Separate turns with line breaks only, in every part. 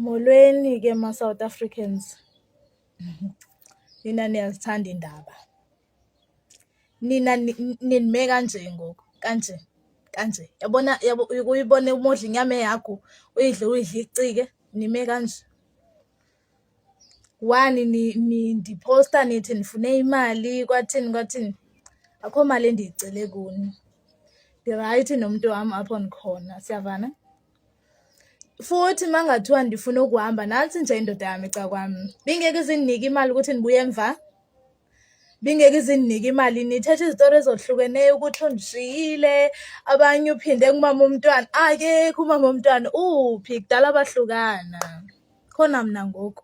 Molweni ke ma-South Africans, nina niyazithanda iindaba. Nina ninime kanje ngoku kanje kanje, yabona uyibone uma udla inyama ehagu uyidle uyidle icike nime kanje. One nindiphosta nithi nifune imali kwathini kwathini, akho mali endiyicele kuni. Ndirayithi nomntu wam apho ndikhona, siyavana? futhi uma ngathiwa ndifuna ukuhamba nansi nje indoda yami ca kwami bingeke izinginike imali ukuthi ndibuye emva bingeke izinginike imali nithethe izitori ezohlukeneyo ukuthi undishiyile abanye uphinde kumama umntwana akekho umama umntwana uphi kudala bahlukana khona mna ngoku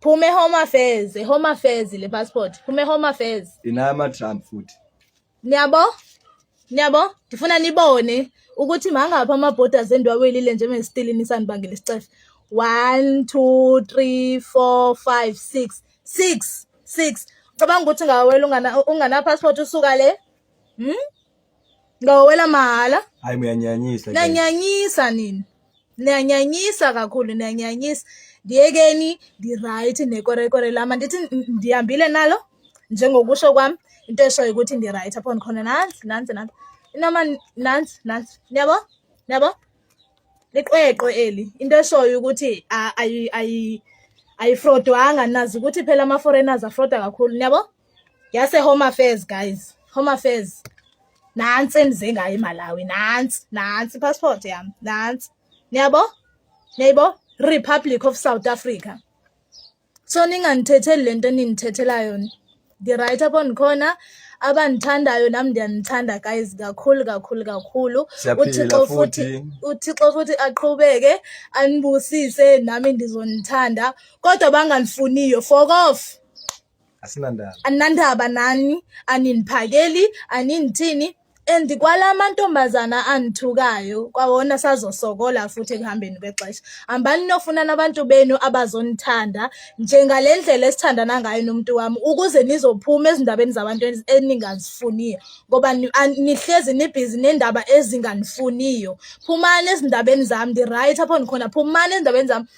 phuma ehome affairs ehome affairs le passport phuma ehome affairs inaya ama-trump futhi
niyabo
niyabo ndifuna nibone ukuthi mangaphi ama-borders endiwawelile njengesitilini sanibangela isicefe one two three four five six six six cabanga ukuthi ngawela ungana-passport usuka le hmm? Ngawela mahala. Hayi muyanyanyisa.
Nanyanyisa
nini? Niyanyanyisa kakhulu, niyanyanyisa. Ndiyekeni ndi-right nekorekore lam andithi ndihambile nalo njengokusho kwam into eshoyo ukuthi ndi-right apho ndikhona nantsi nantsi nantsi inoma nantsi nantsi niyabo niyabo liqweqwe eli into eshoyo ukuthi ayifrodwanga nazi ukuthi phela ama-foreigners afroda kakhulu niyabo yase home affairs guys home affairs nansi endize ngayo emalawi nansi nansi passport yami nansi niyabo niyayibo republic of south africa so ningandithetheli le nto enindithethela yona ndi-right apho ndikhona abandithandayo nam ndiyanithanda guys kakhulu kakhulu kakhulu uthixo futhi uthixo futhi aqhubeke anibusise nami ndizonithanda kodwa bangandifuniyo fokof asinandaba aninandaba nani aniniphakeli aninithini and kwala mantombazana anithukayo kwawona sazosokola futhi ekuhambeni kwexesha hambani nofuna nabantu benu abazonithanda njengale ndlela esithandana ngayo nomuntu wami ukuze nizophuma ezindabeni zabantu eningazifuniyo ngoba nihlezi nibhizi nendaba ezinganifuniyo phumani ezindabeni zami ndi-right apho ndikhona phumani ezindabeni zami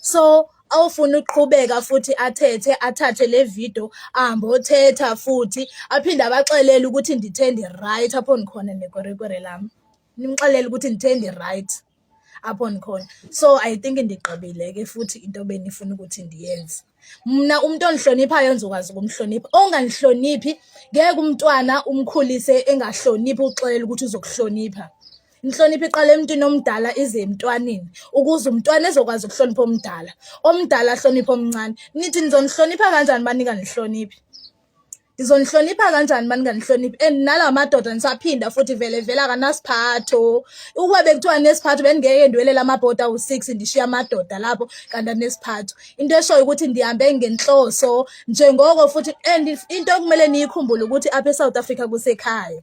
so awufuna ukuqhubeka futhi athethe athathe le video ahambe othetha futhi aphinde abaxelele ukuthi ndithe ndi-right apho ndikhona nekwerekwere lam nimxelele ukuthi ndithe ndi-right apho ndikhona so i think ndigqibile ke futhi into benifuna ukuthi ndiyenze mna umuntu ongihloniphayo ngizokwazi ukumhlonipha ongangihloniphi ngeke umntwana umkhulise engahloniphi uxelela ukuthi uzokuhlonipha inhlonipho iqala emntwini omdala ize emntwaneni ukuze umntwana ezokwazi ukuhlonipha omdala omdala ahloniphe omncane nithi nizonihlonipha kanjani banika nihloniphe ngizonihlonipha kanjani uma ninganihloniphi and nala madoda nisaphinda futhi vele vele akanasiphatho ukube bekuthiwa nesiphatho bendingeke ndiwelela amabhodi awu-six ndishiya amadoda lapho kanti anesiphatho into eshoyo ukuthi ndihambe ngenhloso njengoko futhi and into ekumele niyikhumbule ukuthi apha esouth africa kusekhaya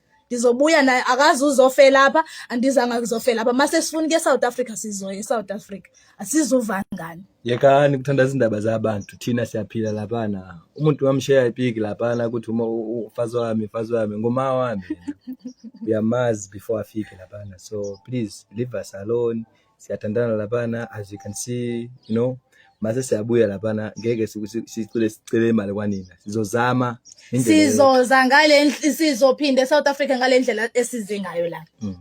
ndizobuya naye akazi uzofela apha andizanga kuzofela apha mase sifuna ke South Africa sizoya eSouth Africa asizuva ngani yekani kuthanda
izindaba zabantu thina siyaphila lapha na umuntu wamsheya ipiki lapha na ukuthi uma ufazi wami ufazi wami ngoma wami uyamazi before afike lapha na so please leave us alone siyathandana laphana as you can see you know mase siyabuya laphana ngeke sicele sicele imali kwanina sizozama sizoza
ngale sizophinde eSouth Africa ngale ndlela esize ngayo la mm.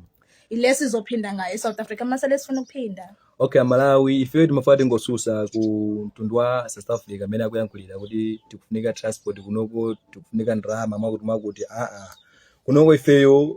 ile sizophinda ngayo eSouth Africa mase lesifuna ukuphinda okay Malawi
if you mafade ngosusa ku Ntundwa South Africa mina kuyangikhulila ukuthi tikufunika transport kunoko tikufunika ndrama makuthi makuthi a a kunoko ifeyo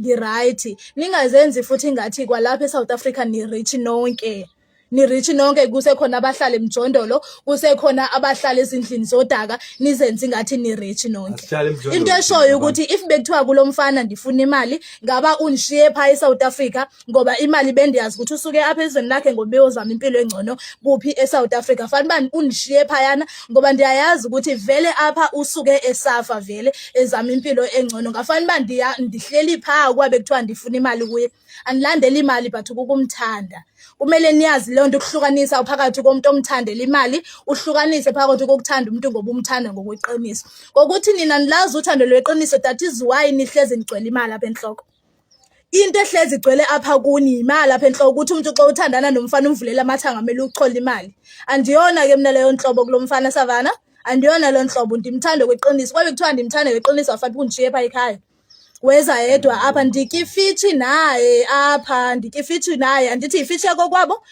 ngi-right ningazenzi futhi ngathi kwalapha e-south africa ni-rich nonke ni-rich nonke kusekhona abahlala emjondolo kusekhona abahlala ezindlini zodaka nizenzi ngathi ni-rich nonke into eshoyo ukuthi if bekuthiwa kulo mfana ndifuna imali ngaba undishiye phaa e-south africa ngoba imali bendiyazi ukuthi usuke apha ezweni lakhe ngoba beyozama impilo engcono kuphi eSouth Africa fanele bani unishiye phayana ngoba ndiyayazi ukuthi vele apha usuke esafa vele ezama impilo engcono ngafanele uba ndiya ndihleli phaa ukuba bekuthiwa ndifuna imali kuye andilandeli imali but kukumthanda kumele niyazi leyo nto ukuhlukanisa phakathi komuntu omthandela imali uhlukanise phakathi kokuthanda umuntu ngoba umthanda ngokweqiniso ngokuthi nina nilazi uthando lweqiniso that is why nihlezi nigcwele imali apha enhloko into ehlezi igcwele apha kuni yimali lapha enhloko ukuthi umuntu xa uthandana nomfana umvulele amathanga kumele uchola imali andiyona ke mina leyo nhlobo kulo mfana savana andiyona leyo nhlobo ndimthande kweqiniso kwabe kuthiwa ndimthande kweqiniso wafathi kundishiye pha ekhaya weza yedwa apha ndikifitshi naye apha ndikifitshi naye andithi yifishi yakokwabo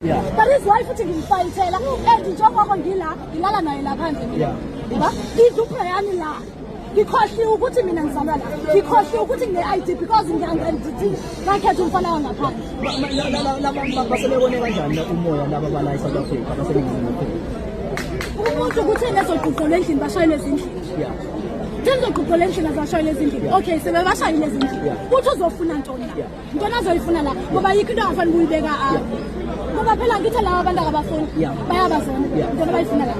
Yeah. But his wife uthi ngimfayithela and njengoba ngila ngilala naye la phandle mina. Ngoba iduphe yami la. Ngikhohliwe ukuthi mina ngizalwa la. Ngikhohliwe ukuthi ngine-ID because ngiyangithi ngakhetha umfana wangaphandle. Laba
basebekone kanjani umoya laba bala eSouth Africa baseningizimu
Afrika? Umuntu ukuthi nezogqugqela endlini bashayelwe ezindlini. Yeah. Themzogqugqela endlini azashayelwe ezindlini. Okay, sebebashayile ezindlini. Uthi uzofuna ntoni la? Ntona azoyifuna la ngoba yikho into angafani kuyibeka apha. Ngoba phela ngithe lawa abantu akabafuni bayabazona. Ntona bayifuna la.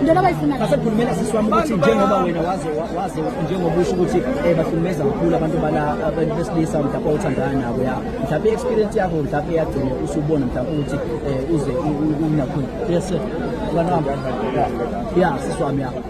Ntona bayifuna la. Asekhulumela sisi wami ukuthi
njengoba wena waze waze njengoba usho ukuthi eh bahlukumeza kakhulu abantu bala abantu besilisa mhlawumbe othandana nabo ya. Mhlawumbe experience yakho mhlawumbe yagcina usubona mhlawumbe ukuthi eh uze unakhona. Yes sir. Kanamba. Yeah, sisi wami ya.